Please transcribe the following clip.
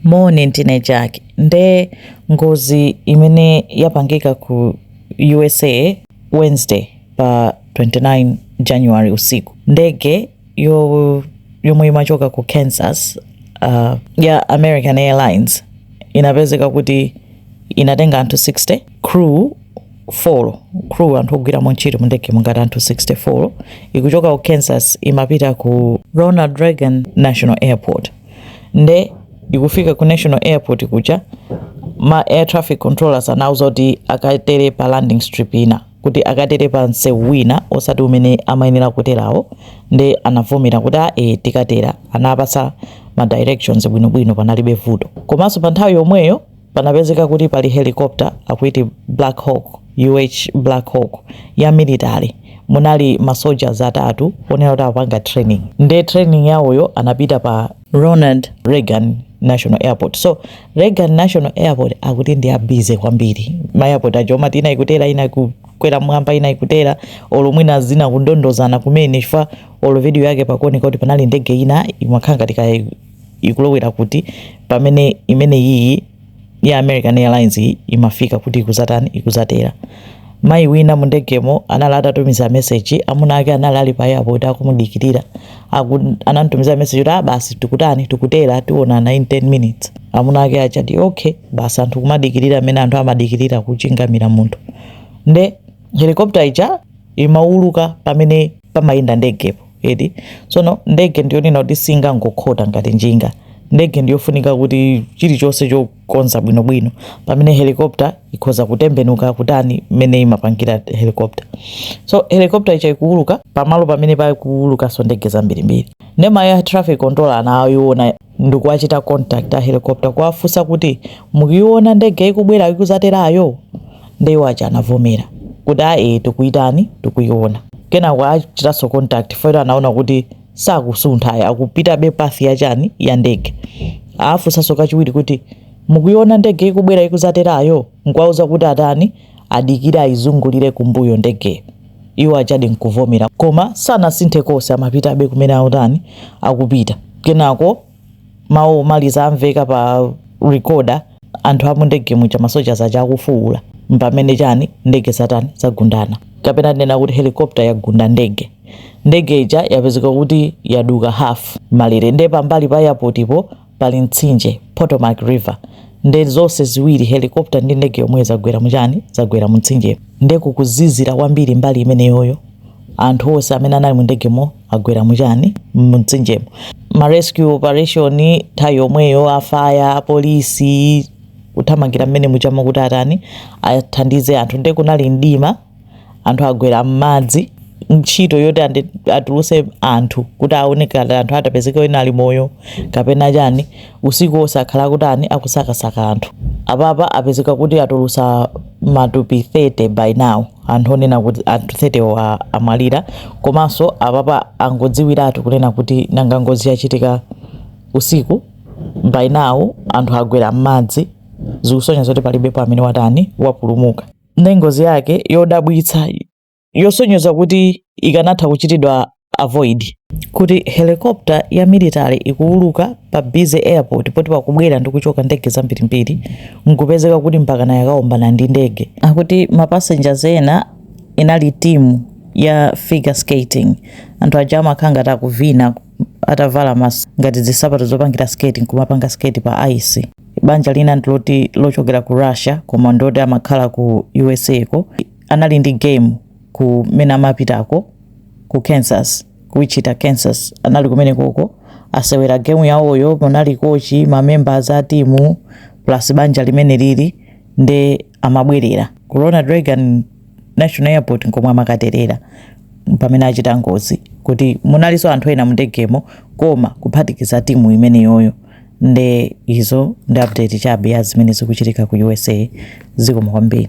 Moni ndine Jack nde ngozi imene yapangika ku USA Wednesday pa 29 January usiku ndege yo yomwe imachoka ku Kansas uh, ya American Airlines inapezeka kuti inatenga anthu 60 crew 4 crew anthu ogwiramo ntchito mu ndege mungati anthu 64 ikuchoka ku Kansas imapita ku Ronald Reagan National Airport nde ikufika ku national airport kuja ma air traffic controllers anauza kuti akatere pa landing strip ina kuti akatere pa msewu wina osati umene amayenera kuterawo nde anavomera kuti ae tikatera anapasa ma directions bwinobwino panalibe vuto komanso pa nthawi yomweyo Panapezeka kuti pali helicopter akuiti Black Hawk, UH Black Hawk ya military munali ma soldiers atatu onena kuti apanga training nde training yawoyo anapita pa Ronald Reagan National Airport. So Reagan National Airport akuti ndi ya busy kwambiri. Ma airport aja omati ina ikutera ina kukwera mwamba ina ikutera olo mwina zina kundondozana kumene chifukwa olo video yake pakuoneka kuti panali ndege ina imakhala ngati ikulowera kuti, pamene imene iyi ya American Airlines iyi imafika kuti ikuzatani ikuzatera mayi wina mu ndegemo anali atatumiza meseji amuna ake anali ali pa airport akumudikirira aku, anamtumiza meseji kuti ah, basi tikutani tikutera tionana in 10 minutes amuna ake ajati okay basi anthu kumadikirira amene anthu amadikirira kuchingamira munthu nde helikopta ija imauluka pamene pamayenda ndegepo eti tsono ndege ndiyonena kuti singangokhota ngati njinga ndege ndiyofunika kuti chilichonse chokonza bwinobwino pamene helicopter ikhoza kutembenuka kutani mmene imapangira helicopter so helicopter ija ikuuluka pamalo pamene pakuulukanso ndege zambirimbiri nde ma air traffic controller anayiona ndikuwachita contact a helicopter kuwafunsa kuti mukuiona ndege ikubwera ikuzaterayo nde iwo aja anavomera kuti ae tikuitani tikuiona kenako achitanso contact poti anaona kuti sakusunthayi akupitabe path yachani ya ndege afunsanso kachiwiri kuti mukuiona ndege ikubwera ikuzaterayo Nkuwauza kuti atani? Adikire ayizungulire kumbuyo ndegeyo. Iwo ajadi nkuvomera. Koma sanasinthe konse, amapitabe kumene akutani? Akupita. Kenako mawu omaliza amveka pa recorder, anthu a mundege muja, ma soldiers aja akufuula. Mpamene chani? Ndege zatani? Zagundana. Kapena tinena kuti helicopter yagunda ndege. Ndege ija yapezeka kuti yaduka half malire. Ndiye pambali pa airport-po pali mtsinje, Potomac River, nde zonse ziwiri helicopter ndi ndege yomweyo zagwera mu chani? zagwera mu mtsinjemo. Nde kukuzizira kwambiri mbali imeneyoyo, anthu onse amene anali mu ndegemo agwera mu chani? mu mtsinjemo. Ma rescue operation nthawi yomweyo, a fire, a police, kuthamangira mmene mujamo kuti atani? athandize anthu. Nde kunali mdima. anthu agwera m'madzi ntchito yoti andi- atuluse anthu kuti aone ngati anthu atapezeka ena ali moyo kapena chani usiku wonse akhala akutani akusakasaka anthu apapa apezeka kuti atulusa matupi 30 by now anthu onena kuti anthu 30 wo a- amwalira komanso apapa angodziwiratu kunena kuti nanga ngozi yachitika usiku by now anthu agwera m'madzi zikusonyeza kuti palibepo amene watani wapulumuka nde ngozi yake yodabwitsa yosonyeza kuti ikanatha kuchitidwa avoid kuti helicopter ya military ikuuluka pa busy airport poti pakubwera ndi kuchoka ndege zambirimbiri nkupezeka kuti mpakana yakaombana ndi ndege akuti mapasengers ena inali timu ya figure skating anthu aja amakhala ngati akuvina atavala ma ngati zisapato zopangira skating nkumapanga skate pa ice banja lina ndiloti lochokera ku russia koma ndoti amakhala ku usa ko anali ndi game kumene amapitako ku kansas ku wichita kansas anali kumene koko asewera game yawoyo munali kochi mamembers a timu plus banja limene lili nde amabwerera ku ronald reagan national airport nkomwe amakaterera pamene achita ngozi kuti munalinso anthu ena mundegemo koma kuphatikiza timu imeneyoyo nde izo ndi update chabe ya zimene zikuchitika ku usa zikomo kwambiri